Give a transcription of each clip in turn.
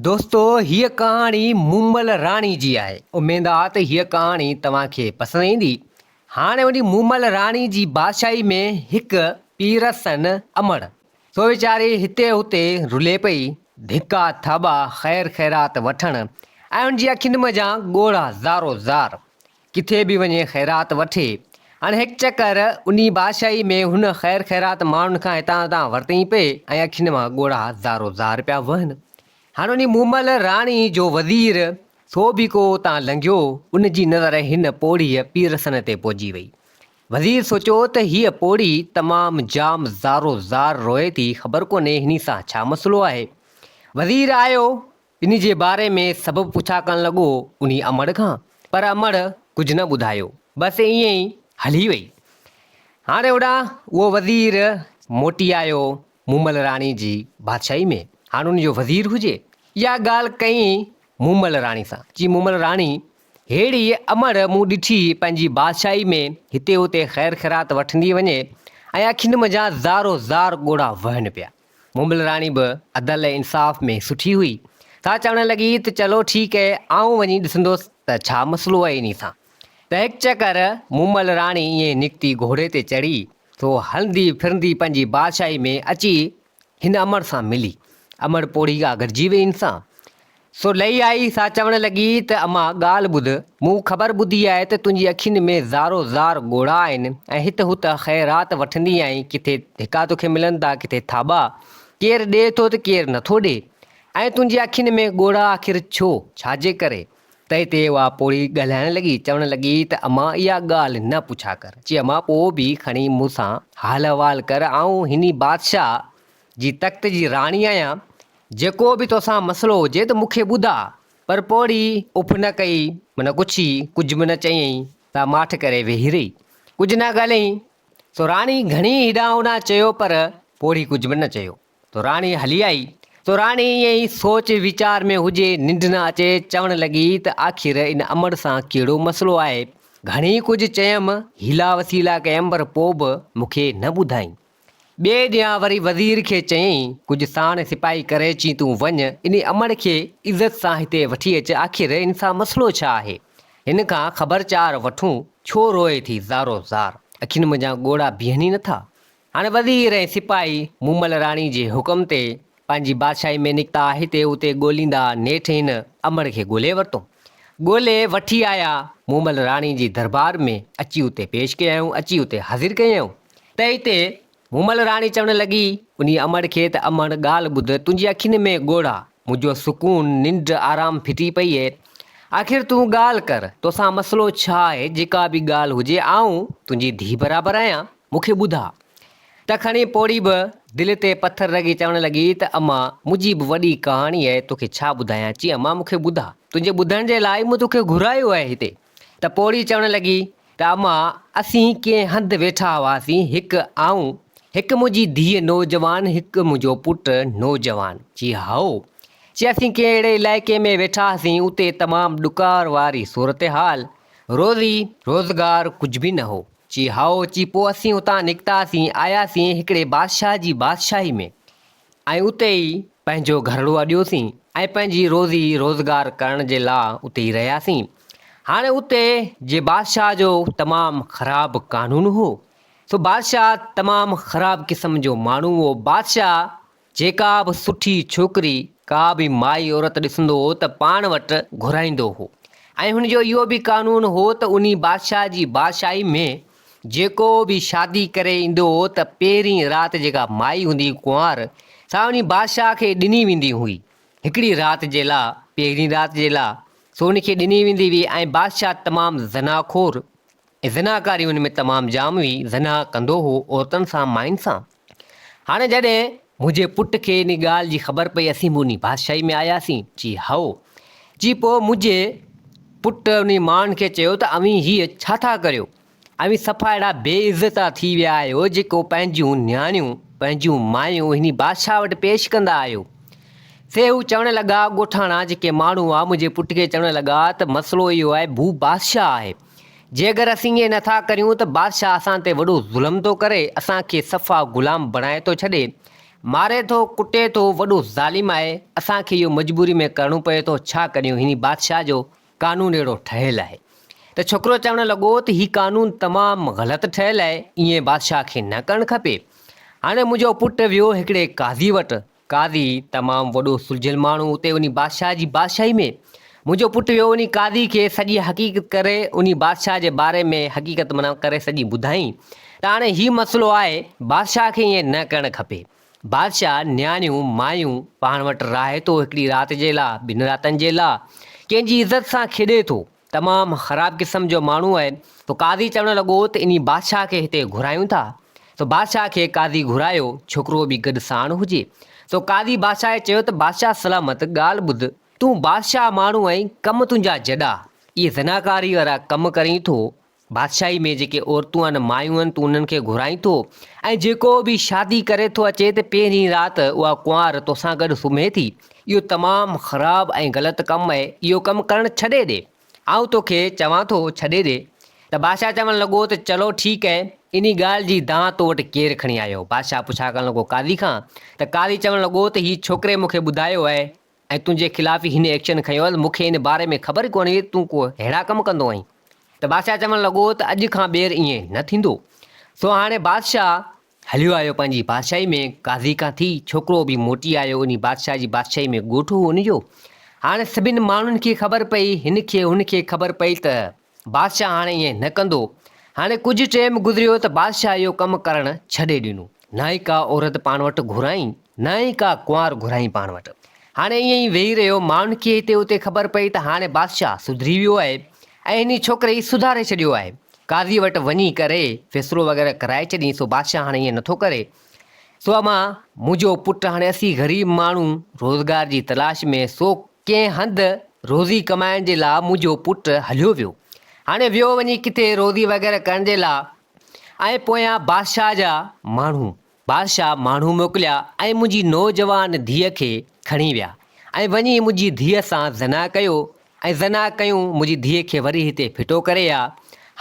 دوستو هيء ڪهاڻي مومل راڻي جي آهي اميد آ ته هيء ڪهاڻي توهان کي پسند ايندي هاڻي وڃي مومل راڻي جي بادشاهي ۾ هڪ پيرسن امڙ سو ويچاري هتي هتي رلي پئي ڌڪا ٿاٻا خير خيرات وٺڻ ۽ ان جي اکين منجهان ڳوڙها زارو زار ڪٿي به وڃي خيرات وٺي. هاڻي هڪ چڪر انهي بادشاهي ۾ هن خير خيرات ماڻهن کان هتان هتان ورتئين پئي ۽ اکين مان ڳوڙها زارو زار پيا وهن. هاڻي انهي مومل راڻي جو وزير سو به ڪو اتان لنگهيو، ان جي نظر هن پوڙهيء پيرسن تي پئجي وئي. وزير سوچيو ته هيء پوڙهي تمام جام زارو زار روئي ٿي، خبر ڪونهي هني سان ڇا مسئلو آهي. وزير آيو ان جي باري ۾ سڀ پڇا ڪرڻ لڳو انهي امڙ کان، پر امڙ ڪجهه نه ٻڌايو، بس ائين ئي هلي وئي. هاڻي هوڏانهن اهو وزير موٽي آيو مومل راڻي جي بادشاهي ۾، هاڻ ان جو وزير هجي. اها ڳالهه ڪئين مومل راڻي سان، چيائين مومل راڻي! ههڙي امڙ مون ڏٺي پنهنجي بادشاهي ۾ هتي هتي خير خيرات وٺندي وڃي ۽ اکين منجهان زارو زار ڳوڙها وهن پيا. مومل راڻي به عدل ۽ انصاف ۾ سٺي هئي، سا چوڻ لڳي ته چلو ٺيڪ هي، آئون وڃي ڏسندوس ته ڇا مسئلو هي انهي سان. پهڪ چڪر مومل راڻي ائين نڪتي گهوڙي تي چڙهي، سو هلندي ڦرندي پنهنجي بادشاهي ۾ اچي هن امڙ سان ملي. امڙ پوڙهي آگرجي وئي هن سان. سو لئي آئي سا چوڻ لڳي ته اما ڳالهه ٻڌ، مون خبر ٻڌي آهي ته تنهنجي اکين ۾ زارو زار ڳوڙها آهن ۽ هت هت خيرات وٺندي آهين، ڪٿي ڌڪا توکي ملن ٿا ڪٿي ٿاٻا، ڪير ڏئي ٿو ته ڪير نٿو ڏئي ۽ تنهنجي اکين ۾ ڳوڙها آخر ڇو، ڇاجي ڪري؟ تئي تي اها پوڙهي ڳالهائڻ لڳي، چوڻ لڳي ته اما اها ڳالهه نه پڇا ڪر، چي اما پوء به کڻي مون سان حال احوال ڪر، آئون هني بادشاهه جي تخت جي راڻي آهيان جيڪو به توسان مسئلو هجي ته مون کي ٻڌاء. پر پوڙهي اف نه ڪئي، نه ڪڇي، ڪجهه به نه چيائين، سا ماٺ ڪري ويهي رهي. ڪجهه نه ڳالهيائين. سو راڻي گهڻي هيڏانهن هوڏانهن چيو پر پوڙهي ڪجهه به نه چيو. سو راڻي هلي آئي. سو راڻي ائين ئي سوچ ويچار ۾ هجي، ننڊ نه اچي، چوڻ لڳي ته آخر ان امڙ سان ڪهڙو مسئلو آهي. گهڻي ڪجهه چيم، حيلا وسيلا ڪيم پر پوء به مون کي نه ٻڌائين. ٻئي ڏينهن وري وزير کي چيائين، ڪجهه ساڻ سپاهي ڪري اچين تون وڃ ان امڙ کي عزت سان هتي وٺي اچ آخر ان سان مسئلو ڇا آهي؟ هن کان خبر چار وٺون ڇو روئي ٿي زارو زار؟ اکين منجهان ڳوڙها بيهن ئي نٿا. هاڻ وزير ۽ سپاهي مومل راڻي جي حڪم تي پنهنجي بادشاهي ۾ نڪتا هتي اتي ڳوليندا نيٺ هن امڙ کي ڳولي ورتو. ڳولي وٺي آيا مومل راڻي جي دربار ۾ اچي اتي پيش ڪيائون اچي اتي حاضر ڪيائون. تنهن تي مومل راڻي چوڻ لڳي، انهيء امڙ کي ته امڙ ڳالهه ٻڌ، تنهنجي اکين ۾ ڳوڙها، منهنجو سڪون، ننڊ، آرام ڦٽي پئي اهي. آخر تون ڳالهه ڪر، توسان مسئلو ڇا آهي؟ جيڪا به ڳالهه هجي، آئون تنهنجي ڌيء برابر آهيان، مون کي ٻڌاء. ته کڻي پوڙهي به دل تي پٿر رکي چوڻ لڳي ته امان، منهنجي به وڏي ڪهاڻي اهي، توکي ڇا ٻڌايان؟ چي امان مون کي ٻڌاء، تنهنجي ٻڌڻ جي لاء ئي مون توکي گهرايو آهي هتي. ته پوڙهي چوڻ لڳي، ٽاما، اسين ڪنهن هنڌ ويٺا هئاسين، هڪ آئون، هڪ منهنجي ڌيء نوجوان، هڪ منهنجو پٽ نوجوان. جي هائو. جي اسين ڪنهن اهڙي علائقي ۾ ويٺا هئاسين، اتي تمام ڏڪار واري صورتحال، روزي، روزگار ڪجهه به نه هو. جي هائو. جي پوء اسين اتان نڪتاسين، آياسين هڪڙي بادشاهه جي بادشاهي ۾. ۽ اتي ئي پنهنجو گهرڙو اڏيوسين ۽ پنهنجي روزي روزگار ڪرڻ جي لاء اتي ئي رهياسين. هاڻي اتي جي بادشاهه جو تمام خراب قانون هو. سو بادشاهه تمام خراب قسم جو ماڻهو هو. بادشاهه جيڪا به سٺي ڇوڪري ڪا به مائي عورت ڏسندو هو ته پاڻ وٽ گهرائيندو هو ۽ هن جو اهو به قانون هو ته انهي بادشاهه جي بادشاهي ۾ جيڪو به شادي ڪري ايندو هو ته پهرين رات جيڪا مائي هوندي هئي ڪنوار، سا وڃي بادشاهه کي ڏني ويندي هئي. هڪڙي رات جي لاء، پهرين رات جي لاء، سو ان کي ڏني ويندي هئي ۽ بادشاهه تمام زنا خور ۽ زناڪاري ان ۾ تمام جام هئي، زنا ڪندو هو عورتن سان، ماين سان. هاڻي جڏهن منهنجي پٽ کي ان ڳالهه جي خبر پئي اسين به انهي بادشاهي ۾ آياسين؟ چي هائو. چي پوء منهنجي پٽ انهي ماڻهن کي چيو ته اوهين هيء ڇا ٿا ڪريو؟ اوهين صفا اهڙا بي عزتا ٿي ويا آهيو جيڪو پنهنجيون نياڻيون، پنهنجيون مايون انهي بادشاهه وٽ پيش ڪندا آهيو. سي هو چوڻ لڳا، ڳوٺاڻا جيڪي ماڻهو هئا منهنجي پٽ کي چوڻ لڳا ته مسئلو اهو آهي هو بادشاهه آهي. جيڪر اسين ائين نٿا ڪريون ته بادشاهه اسان تي وڏو ظلم ٿو ڪري، اسان کي صفا غلام بڻائي ٿو ڇڏي، ماري ٿو، ڪٽي ٿو، وڏو ظالم آهي، اسان کي اهو مجبوري ۾ ڪرڻو پوي ٿو، ڇا ڪريون، هن بادشاهه جو قانون اهڙو ٺهيل آهي. ته ڇوڪرو چوڻ لڳو ته هي قانون تمام غلط ٺهيل آهي، ائين بادشاهه کي نه ڪرڻ کپي، هاڻي منهنجو پٽ ويو هڪڙي قاضي وٽ، قاضي، تمام وڏو سلجھيل ماڻھو اتي انھي بادشاھھ جي بادشاھي ۾، منھنجو پٽ ويو انھي قاضي کي سڄي حقيقت ڪري انھي بادشاھھ جي باري ۾ حقيقت معنيٰ ڪري سڄي ٻڌائين ته ھاڻي ھي مسئلو آھي بادشاھھ کي ائين نھ ڪرڻ کپي بادشاھھ، نياڻيون، مايون پاڻ وٽ راھي ٿو ھڪڙي رات جي لا، ٻن راتن جي لا ڪنھن جي عزت سان کيڏي ٿو. تمام خراب قسم جو ماڻهو آهي. سو قاضي چوڻ لڳو ته انهي بادشاهه کي هتي گهرايون ٿا. سو بادشاهه کي قاضي گهرايو، ڇوڪرو به گڏ ساڻ هجي. سو قاضي بادشاهه کي چيو ته بادشاهه سلامت ڳالهه ٻڌ، تون بادشاهه ماڻهو آهين، ڪم تنهنجا جڏا، اهي زناڪاري وارا ڪم ڪرين ٿو، بادشاهي ۾ جيڪي عورتون آهن مايون آهن تون انهن کي گهرائين ٿو ۽ جيڪو به شادي ڪري ٿو اچي ته پهرين رات اها ڪنوار توسان گڏ سمهي ٿي اهو تمام خراب ۽ غلط ڪم اهي اهو ڪم ڪرڻ ڇڏي ڏي آئون توکي چوان ٿو ڇڏي ڏي ته بادشاهه چوڻ لڳو ته چلو ٺيڪ اهي انهي ڳالهه جي دانهن تو وٽ ڪير کڻي آيو بادشاهه پڇا ڪرڻ لڳو قاضي کان ته قاضي چوڻ لڳو ته هي ڇوڪري مون کي ٻڌايو اهي ۽ تنهنجي خلاف ئي هن ايڪشن کنيو آهي ته مون کي ان باري ۾ خبر ئي ڪونه هئي ته تون ڪو ههڙا ڪم ڪندو آهين. ته بادشاهه چوڻ لڳو ته اڄ کان ٻيهر ائين نه ٿيندو. سو هاڻي بادشاهه هليو آيو پنهنجي بادشاهي ۾ قاضي کان ٿي، ڇوڪرو به موٽي آيو انهي بادشاهه جي بادشاهي ۾ ڳوٺ هو ان جو. هاڻي سڀني ماڻهن کي خبر پئي، هن کي هن کي خبر پئي ته. بادشاهه هاڻي ائين نه ڪندو. هاڻي ڪجهه ٽيم گذريو ته بادشاهه اهو ڪم ڪرڻ ڇڏي ڏنو. نه ئي ڪا عورت پاڻ وٽ گهرائين، نه ئي ڪا ڪنوار گهرائين پاڻ وٽ. هاڻي ائين ئي ويهي رهيو. ماڻهن کي هتي هتي خبر پئي ته هاڻي بادشاهه سڌري ويو آهي ۽ هني ڇوڪري سڌاري ڇڏيو آهي. قاضيء وٽ وڃي ڪري فيصلو وغيره ڪرائي ڇڏين سو بادشاهه هاڻي ائين نٿو ڪري. سو امان منهنجو پٽ هاڻي اسين غريب ماڻهو روزگار جي تلاش ۾ سو ڪنهن هنڌ روزي ڪمائڻ جي لا منهنجو پٽ هليو ويو. هاڻي ويو وڃي ڪٿي روزي وغيره ڪرڻ جي لا ۽ پويان بادشاهه جا ماڻهو بادشاهه ماڻهو موڪليا ۽ منهنجي نوجوان ڌيء کي کڻي ويا ۽ وڃي منهنجي ڌيء سان زنا ڪيو ۽ زنا ڪيون منهنجي ڌيء کي وري هتي ڦٽو ڪري آ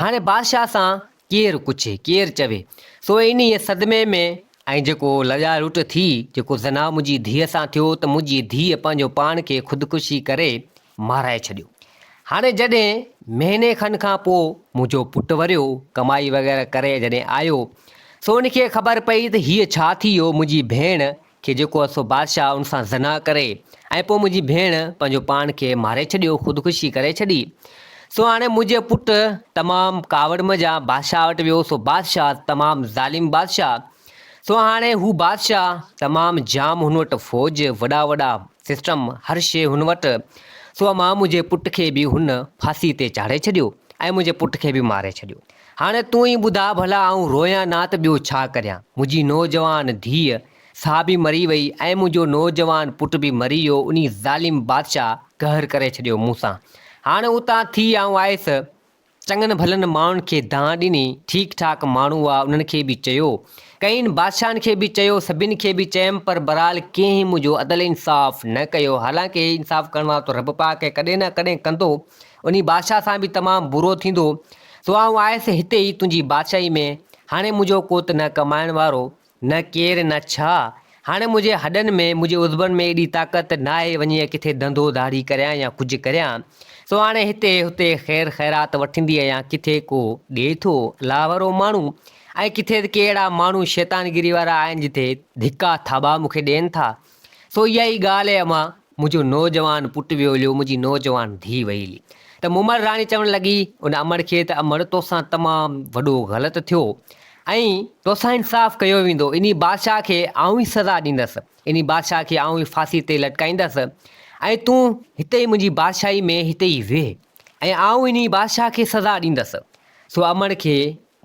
هاڻي بادشاهه سان ڪير پڇي ڪير چوي سو انهيء صدمي ۾ ۽ جيڪو لڄا لٽ ٿي جيڪو زنا منهنجي ڌيء سان ٿيو ته منهنجي ڌيء پنهنجو پاڻ کي خودڪشي ڪري مارائي ڇڏيو هاڻي جڏهن مهيني کن کان پوء منهنجو پٽ وريو ڪمائي وغيره ڪري جڏهن آيو سو ان کي خبر پئي ته هيء ڇا ٿي ويو منهنجي ڀيڻ کي جيڪو هو سو بادشاهه ان سان زنا ڪري ۽ پوء منهنجي ڀيڻ پنهنجو پاڻ کي ماري ڇڏيو، خودڪشي ڪري ڇڏي. سو هاڻي منهنجي پٽ تمام ڪاوڙ منجهان بادشاهه وٽ ويو، سو بادشاهه تمام ظالم بادشاهه. سو هاڻي هو بادشاهه تمام جام هن وٽ فوج، وڏا وڏا سسٽم، هر شيء هن وٽ. سو امان منهنجي پٽ کي به هن ڦاسي تي چاڙهي ڇڏيو ۽ منهنجي پٽ کي به ماري ڇڏيو. هاڻي تون ئي ٻڌاء ڀلا آئون رويان نه ته ٻيو ڇا ڪريان. منهنجي نوجوان ڌيء سا به مري وئي ۽ منهنجو نوجوان پٽ به مري ويو انهي ظالم بادشاهه قهر ڪري ڇڏيو مون سان. هاڻي اتان ٿي آئون آيس. چڱن ڀلن ماڻهن کي دانهن ڏني. ٺيڪ ٺاڪ ماڻهو هئا انهن کي به چيو. ڪئين بادشاهن کي به چيو سڀن کي به چيم پر برحال ڪنهن منهنجو عدل انصاف نه ڪيو حالانڪ هي انصاف ڪرڻ وارو ته رب پاڪ ڪڏهن نه ڪڏهن ڪندو انهي بادشاهه سان به تمام برو ٿيندو، سو آئون آيس هتي ئي تنهنجي بادشاهي ۾، هاڻي منهنجو ڪوت نه ڪمائڻ وارو، نه ڪير نه ڇا، هاڻي منهنجي هڏن ۾، منهنجي عضبن ۾ ايڏي طاقت ناهي وڃي ڪٿي ڌنڌو ڌاڙي ڪريان يا ڪجهه ڪريان، سو هاڻي هتي هتي خير خيرات وٺندي آهيان، ڪٿي ڪو ڏيٿو، لاهورو ماڻهو، ۽ ڪٿي ته ڪي اهڙا ماڻهو شيطانگيري وارا آهن جتي ڌڪا ٿاٻا مون کي ڏين ٿا، سو اها ئي ڳالهه اي امان، منهنجو نوجوان پٽ ويوليو، منهنجي نوجوان ڌيء ويلي. ته مومل راڻي چوڻ لڳي ان امڙ کي ته امڙ توسان تمام وڏو غلط ٿيو ۽ توسان انصاف ڪيو ويندو. انهي بادشاهه کي آئون ئي سزا ڏيندس. انهي بادشاهه کي آئون ئي ڦاسي تي لٽڪائيندس ۽ تون هتي ئي منهنجي بادشاهي ۾ هتي ئي ويهه ۽ آئون انهي بادشاهه کي سزا ڏيندس. سو امڙ کي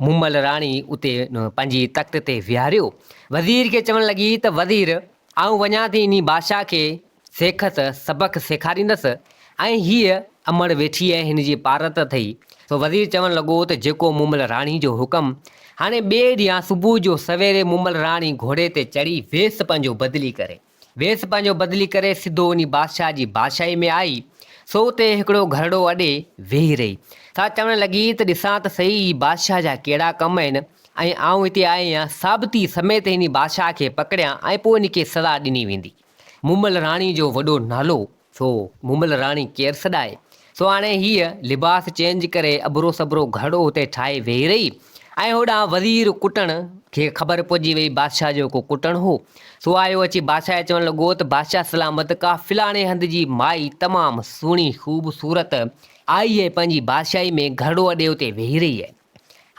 مومل راڻي اتي پنهنجي تخت تي ويهاريو، وزير کي چوڻ لڳي ته وزير آئون وڃان ٿي انهي بادشاهه کي سيکت، سبق، سيکاريندس ۽ هيء امڙ ويٺي آهي هن جي پارت اٿئي، سو وزير چوڻ لڳو ته جيڪو مومل راڻي جو حڪم، هاڻي ٻئي ڏينهن صبح جو سويري مومل راڻي گهوڙي تي چڙهي ويس پنهنجو بدلي ڪري. ويس پنهنجو بدلي ڪري سڌو وڃي بادشاهه جي بادشاهي ۾ آئي، سو اتي هڪڙو گهرڙو اڏي ويهي رهي. سا چوڻ لڳي ته ڏسان ته سهي هي بادشاهه جا ڪهڙا ڪم آهن ۽ آئون هتي آئي آهيان، ثابتي سميت هن بادشاهه کي پڪڙيان ۽ پوء هن کي سزا ڏني ويندي. مومل راڻي جو وڏو نالو. سو مومل راڻي ڪير سڏائي. سو هاڻي هيء لباس چينج ڪري ابرو سبرو گهڙو اتي ٺاهي ويهي رهي ۽ هوڏانهن وزير ڪٽڻ کي خبر پئجي ويئي بادشاهه جو ڪو ڪٽڻ هو. سو آيو اچي بادشاهه کي چوڻ لڳو ته بادشاهه سلامت ڪا فلاڻي هنڌ جي مائي تمام سهڻي خوبصورت آئي ۽ پنهنجي بادشاهي ۾ گهڙو اڏي اتي ويهي رهي آهي.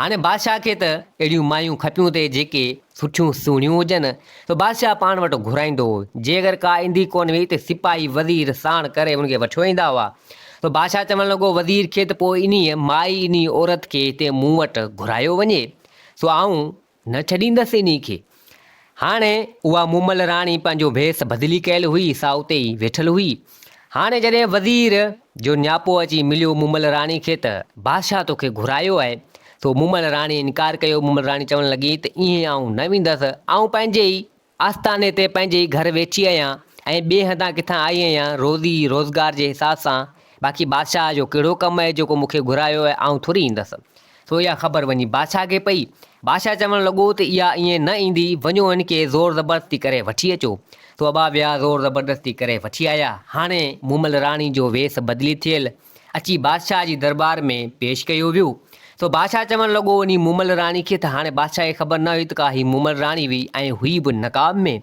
هاڻي بادشاهه کي ته اهڙيون مايون کپيون تي جيڪي سٺيون سهڻيون هجن، سو بادشاهه پاڻ وٽ گهرائيندو هو، جي اگر ڪا ايندي ڪونه هئي ته سپاهي وزير ساڻ ڪري ان کي وٺيو ايندا هئا. سو بادشاهه چوڻ لڳو وزير کي ته پوء انهيء مائي انهيء عورت کي هتي مون وٽ گهرايو وڃي، سو آئون نه ڇڏيندس انهي کي. هاڻي اها مومل راڻي پنهنجو ڀيس بدلي ڪيل هئي، سا اتي ئي ويٺل هئي. هاڻي جڏهن وزير جو نياپو اچي مليو مومل راڻي کي ته، بادشاهه توکي گهرايو آهي. سو مومل راڻيء انڪار ڪيو. مومل راڻي چوڻ لڳي ته، ايئن آئون نه ويندس. آئون پنهنجي ئي آستاني تي پنهنجي گهر ويچي آهيان ۽ ٻئي هنڌان ڪٿان آئي آهيان روزي روزگار جي حساب سان، باقي بادشاهه جو ڪهڙو ڪم آهي جيڪو مون کي گهرايو آهي، آئون ٿوري ايندس. سو اها خبر وڃي بادشاهه کي پئي. بادشاهه چوڻ لڳو ته اها ائين نه ايندي، وڃو هن کي زور زبردستي ڪري وٺي اچو. سو ابا ويا زور زبردستي ڪري وٺي آيا. هاڻي مومل راڻي جو ويس بدلي ٿيل اچي بادشاهه جي درٻار ۾ پيش ڪيو ويو، سو بادشاهه چوڻ لڳو انهي مومل راڻي کي ته هاڻي بادشاهه کي خبر نه هئي ته ڪا هي مومل راڻي هئي ۽ هئي به نقاب ۾،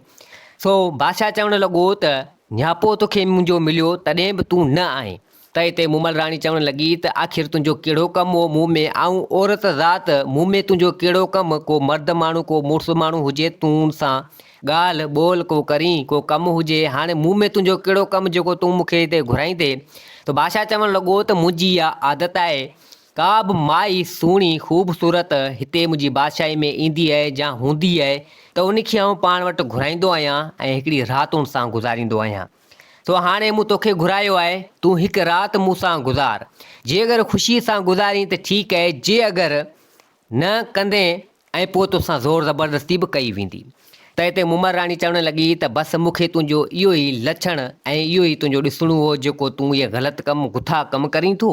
سو بادشاهه چوڻ لڳو ته نياپو تو کي منهنجو مليو تڏهن به تون نه آئين ڪئي تي مومل راڻي چوڻ لڳي ته آخر تنهنجو ڪهڙو ڪم هو مون ۾ آئون عورت ذات مون ۾ تنهنجو ڪهڙو ڪم ڪو مرد ماڻهو ڪو مڙس ماڻهو هجي تون سان ڳالهه ٻولهه ڪو ڪرين، ڪو ڪم هجي، هاڻي مون ۾ تنهنجو ڪهڙو ڪم جيڪو تون مون کي هتي گهرائين ٿي؟ ته بادشاهه چوڻ لڳو ته منهنجي اها عادت آهي، ڪا به مائي سهڻي، خوبصورت، هتي منهنجي بادشاهي ۾ ايندي آهي يا هوندي آهي ته ان کي آئون پاڻ وٽ گهرائيندو آهيان ۽ هڪڙي رات ان سان گذاريندو آهيان. سو هاڻي مون توکي گهرايو آهي، تون هڪ رات مون سان گذار. جي اگر خوشيء سان گذارين ته ٺيڪ آهي، جي اگر نه ڪندين ۽ پوء توسان زور زبردستي به ڪئي ويندي. تنهن تي مومل راڻي چوڻ لڳي ته بس مون کي تنهنجو اهو ئي لڇڻ ۽ اهو ئي تنهنجو ڏسڻو هو جيڪو تون اهي غلط ڪم گٿا ڪم ڪرين ٿو.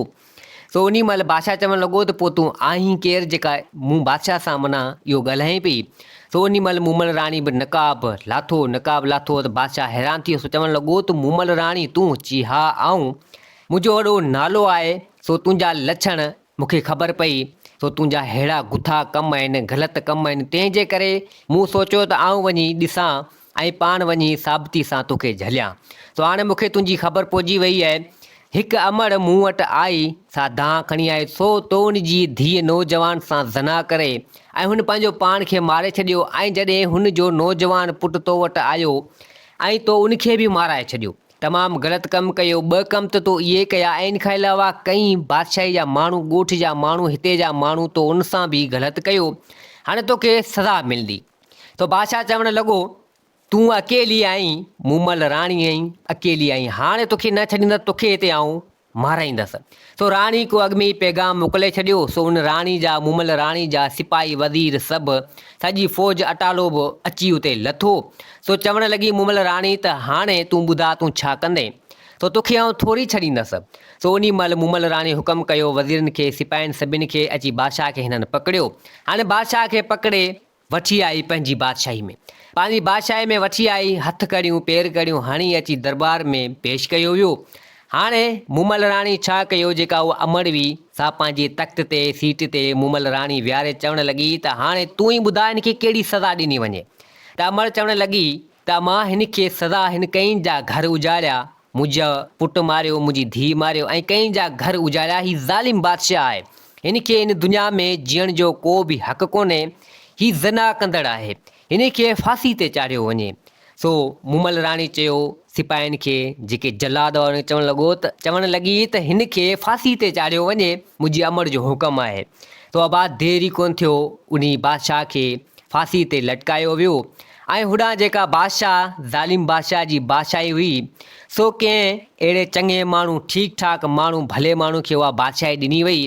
سو انهي مهل بادشاهه چوڻ لڳو ته پوء تون آهين ڪير جيڪا مون بادشاهه سان منا اهو ڳالهائين پئي. سو انهي مهل مومل راڻي به نقاب لاٿو نقاب لاٿو ته بادشاهه حيران ٿيو سو چوڻ لڳو ته مومل راڻي تون؟ چي ها آئون. منهنجو وڏو نالو آهي سو تنهنجا لڇڻ مون کي خبر پئي سو تنهنجا ههڙا گٿا ڪم آهن، غلط ڪم آهن، تنهن جي ڪري مون سوچيو ته آئون وڃي ڏسان ۽ پاڻ وڃي ثابتي سان تو کي جهليان. سو هاڻي مون کي تنهنجي خبر پوجي وئي آهي. هڪ امڙ مون وٽ آئي، سا دانهن کڻي آئي سو تو ان جي ڌيء نوجوان سان زنا ڪري ۽ هن پنهنجو پاڻ کي ماري ڇڏيو ۽ جڏهن هن جو نوجوان پٽ تو وٽ آيو ۽ تو ان کي به مارائي ڇڏيو. تمام غلط ڪم ڪيو، ٻه ڪم ته تو اهي ڪيا ۽ ان کان علاوه ڪئين بادشاهي جا ماڻهو، ڳوٺ جا ماڻهو، هتي جا ماڻهو، تو ان سان به غلط ڪيو، هاڻي توکي سزا ملندي. سو بادشاهه چوڻ لڳو، تون اڪيلي آهين، مون مئل راڻي آهين، اڪيلي آهين، هاڻي توکي نه ڇڏيندس، توکي هتي آئون مارائيندس. سو راڻي ڪو اڳ ۾ ئي پيغام موڪلي ڇڏيو. سو ان راڻي جا مومل راڻي جا سپاهي وزير سڀ، سڄي فوج اٽالو به اچي اتي لٿو. سو چوڻ لڳي مومل راڻي ته هاڻي تون ٻڌاء تون ڇا ڪندين؟ سو توکي آئون ٿوري ڇڏيندس. سو انهي مهل مومل راڻي حڪم ڪيو وزيرن کي سپاهين سڀن کي اچي بادشاهه کي هنن پڪڙيو. هاڻي بادشاهه کي پڪڙي وٺي آئي پنهنجي بادشاهي ۾. پنهنجي بادشاهي ۾ وٺي آئي، هٿ ڪڙيون، پير ڪڙيون هڻي اچي درٻار ۾ پيش ڪيو ويو. هاڻي مومل راڻي ڇا ڪيو؟ جيڪا اها امڙ هئي، سا پنهنجي تخت تي، سيٽ تي، مومل راڻي ويهاري چوڻ لڳي ته هاڻي تون ئي ٻڌاء هن کي ڪهڙي سزا ڏني وڃي؟ ته امڙ چوڻ لڳي ته مان هن کي سزا هن ڪئين جا گهر اجاڙيا منهنجو پٽ ماريو منهنجي ڌيء ماريو ۽ ڪئين جا گهر اجاڙيا هي ظالم بادشاهه آهي هن کي هن دنيا ۾ جيئڻ جو ڪو به حق ڪونهي هي زنا ڪندڙ آهي هن کي ڦاسي تي چاڙهيو وڃي سو مومل راڻي چيو سپاهين کي جيڪي جلاد هئا چوڻ لڳو ته چوڻ لڳي ته هن کي ڦاسي تي چاڙهيو وڃي منهنجي امڙ جو حڪم آهي سو ابا دير ئي ڪونه ٿيو انهي بادشاهه کي ڦاسي تي لٽڪايو ويو ۽ هوڏانهن جيڪا بادشاهه ظالم بادشاهه جي بادشاهي هئي، سو ڪنهن اهڙي چڱي ماڻهو، ٺيڪ ٺاڪ ماڻهو، ڀلي ماڻهو کي اها بادشاهي ڏني وئي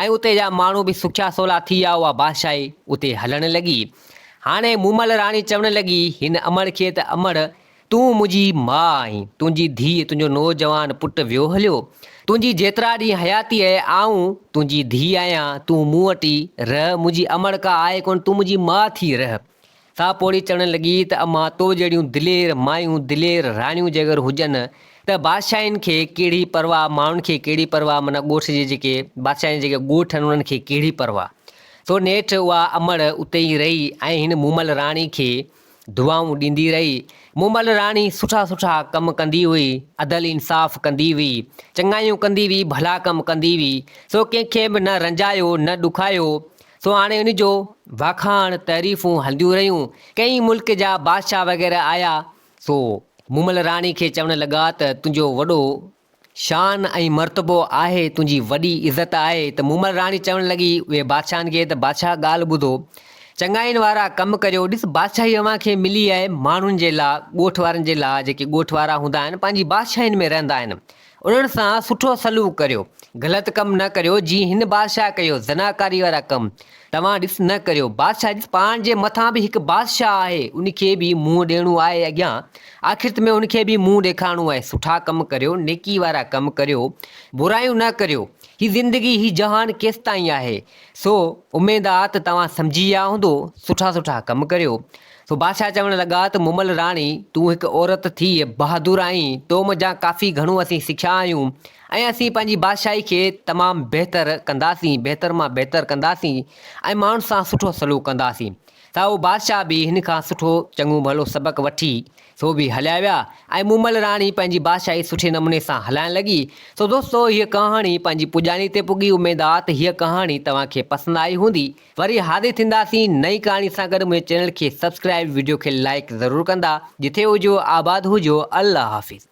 ۽ اتي جا ماڻهو به سکيا سولا ٿي ويا، اها بادشاهي اتي هلڻ لڳي. هاڻي مومل راڻي چوڻ لڳي هن امڙ کي ته امڙ تون منهنجي ماء آهين، تنهنجي ڌيء، تنهنجو نوجوان پٽ ويو هليو، تنهنجي جيترا ڏينهن حياتي آهي، آئون تنهنجي ڌيء آهيان، تون مون وٽ ئي رهه، منهنجي امڙ ڪا آهي ڪونه، تون منهنجي ماء ٿي رهه. ساهه پوڙهي چڙهڻ لڳي ته امان تو جهڙيون دلير مايون، دلير راڻيون جي اگر هجن ته بادشاهين کي ڪهڙي پرواهه، ماڻهن کي ڪهڙي پرواهه معنيٰ ڳوٺ جي جيڪي بادشاهين جا جيڪي ڳوٺ آهن انهن کي ڪهڙي پرواهه. سو نيٺ اها امڙ اتي ئي رهي ۽ هن مومل راڻي کي دعائون ڏيندي رهي. مومل راڻي سٺا سٺا ڪم ڪندي هئي، عدل انصاف ڪندي هئي، چڱايون ڪندي هئي، ڀلا ڪم ڪندي هئي، سو ڪنهن کي به نه رنجايو نه ڏکايو، سو هاڻي ان جو واکاڻ، تعريفون هلنديون رهيون. ڪئين ملڪ جا بادشاهه وغيره آيا، سو مومل راڻي کي چوڻ لڳا ته تنهنجو وڏو شان ۽ مرتبو آهي، تنهنجي وڏي عزت آهي. ته مومل راڻي چوڻ لڳي اهي بادشاهن کي ته بادشاهه ڳالهه ٻڌو، چڱاين وارا ڪم ڪريو، ڏس بادشاهي اوهان کي ملي آهي ماڻهن جي لاء، ڳوٺ وارن جي لاء، جيڪي ڳوٺ وارا هوندا آهن، پنهنجي بادشاهين ۾ رهندا آهن، انهن سان سٺو سلوڪ ڪريو، غلط ڪم نه ڪريو، جيئن هن بادشاهه ڪيو، زناڪاري وارا ڪم توهان ڏس نه ڪريو، بادشاهه ڏس پاڻ جي مٿان به هڪ بادشاهه آهي، ان کي به منهن ڏيڻو آهي اڳيان، آخرت ۾ ان کي به منهن ڏيکارڻو آهي، سٺا ڪم ڪريو، نيڪي وارا ڪم ڪريو، برايون نه ڪريو، هي زندگي، هي جهان ڪيستائين آهي، سو اميد آ ته توهان سمجهي ويا هوندو، سٺا سٺا ڪم ڪريو. سو بادشاهه چوڻ لڳا ته مومل راڻي، تون هڪ عورت ٿيء بهادر آهين، تو منجهان ڪافي گهڻو اسين سکيا آهيون ۽ اسين پنهنجي بادشاهي کي تمام بهتر ڪنداسين، بهتر مان بهتر ڪنداسين ۽ ماڻهن سان سٺو سلوڪ ڪنداسين. سائو بادشاهه به هن کان سٺو چڱو ڀلو سبق وٺي سو به هليا ويا ۽ مومل راڻي پنهنجي بادشاهي سٺي نموني سان هلائڻ لڳي. سو دوستو هيء ڪهاڻي پنهنجي پڄاڻي تي پڳي اميد آ ته هيء ڪهاڻي توهان کي پسند آئي هوندي ۽ وري حاضر ٿينداسين نئين ڪهاڻي سان گڏ منهنجي چينل کي سبسڪرائب وڊيو کي لائيڪ ضرور ڪندا جٿي هجو آباد هجو الله حافظ.